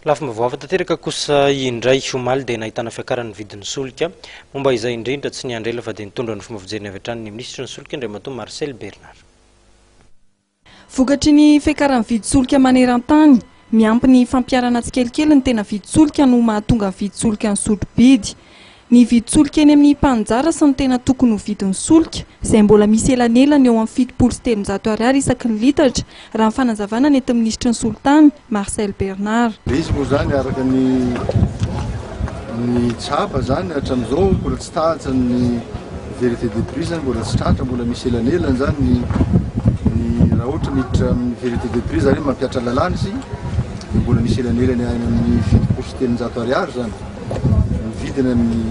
Lafim-baovao hafa tanteraka kosa indray, omaly dia nahitana fiakaran'ny vidin'ny solika. Momba izay indrindra, tsy niandry ela fa dia nitondra ny fomba fijeriny avy hatrany ny minisitry ny solika, Andriamatoa Marcel Bernard. Vokatry ny fiakaran'ny vidin-tsolika maneran-tany, miampy ny fampiharana tsikelikely ny tena vidin-tsolika no mahatonga ny vidin-tsolika nisotro bidy. Nividy solika eny amin'ny mpaninjara sy ny tena tokony ho vidin'ny solika, izay mbola misy elanelany eo amin'ny fitopolo sy telonjato ariary isaky ny litatra, raha ny fanazavana nentin'ny minisitry ny solitany, Marcel Bernard. Dia izy moa izany, araka ny ny tsapa izany hatramin'izao, mbola tsy tratry ny vérité de prix izany, mbola tsy tratra, mbola misy elanelany izany ny ny raha ohatra miditra amin'ny vérité de prix izany hoe mampihatra lalàna izy, dia mbola misy elanelany any amin'ny fitopolo sy telonjato ariary izany. mividina ny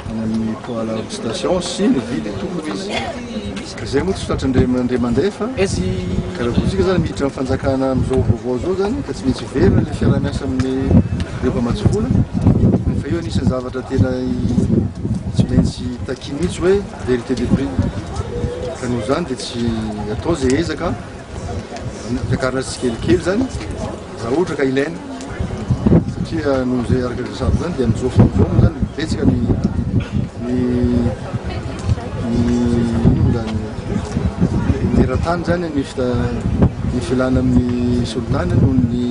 any amin'ny poala station sy mividy tokony izy izay moa tsy tratra ndray mandray mandefa karabotsika zany miditra amin'ny fanjakana amin'izao vaovao zao zany ka tsy maintsy hiverina le fiarahamiasa amin'ny reo mpamatsy vola fa eo anisan'ny zavatra tena tsy maintsy taki mihitsy hoe vérité de prix ka noho zany dia tsy atao zay ezaka takarina tsikelikely zany Raha ohatra ka ilaina, satria noho izay araka izay resahako izany dia amin'izao fotoana izao moa izany betsaka ny ny ny inona moa izany ny eran-tany izany ny fita ny filana amin'ny solitany noho ny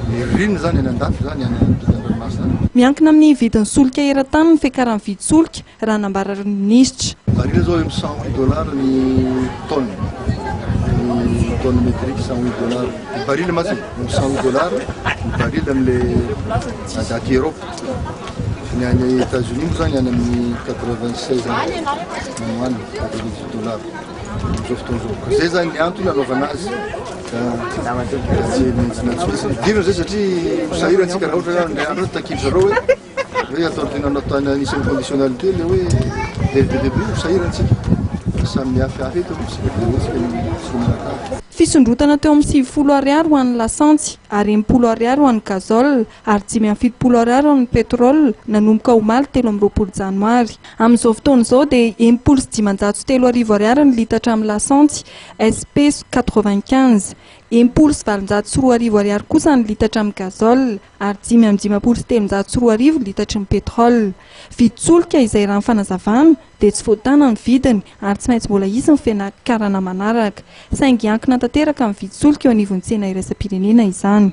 ny ririnina izany any an-dafy izany any an-tokantranomasina any. Miankina amin'ny vidin'ny solika eran-tany ny fiakaran'ny vidin-tsolika raha nambara ny minisitra. Marihina izao hoe mi-cent huit dollars ny tonne, ny tonne métrique cent huit dollars. Ny baril mantsy mi-cent huit dollars ny baril amin'ilay à date Europe. Ny any États-Unis moa izany any amin'ny quatre vingt seize any no any quatre vingt dix dollars amin'izao fotoana izao. Ka izay izany ny antony anaovana azy ka tsy maintsy nantsy. Idirana izay satria ho sahirana isika raha ohatra ka ny andro takian'i zareo hoe. Hoe ataovy tena nanao tany anisany conditionnalité le hoe dès le début no sahirana isika fa samy mihafihafy eto aloha isika dia hetsika ny solon'akanjo. Fisondrotana teo amin'ny sivifolo Ariary ho an'ny lasantsy ary enimpolo Ariary ho an'ny gazole ary dimy amby fitopolo Ariary ho an'ny pétrole nanomboka omaly telo amby roapolo Janoary. Amin'izao fotoana izao dia enimpolo sy dimanjato sy telo arivo Ariary ny litatra amin'ny lasantsy SP quatre-vingt-quinze. Enimpolo sy valonjato sy roa arivo Ariary kosa ny litatra amin'ny gazole. ary dimy amby dimampolo sy telonjato sy roa arivo litatry ny pétrole. Vidy solika izay raha ny fanazavana dia tsy voatàna ny vidiny ary tsy maintsy mbola hisy ny fianakarana manaraka. Saingy hiankina tanteraka amin'ny vidy solika eo anivon'ny tsena iraisam-pirenena izany.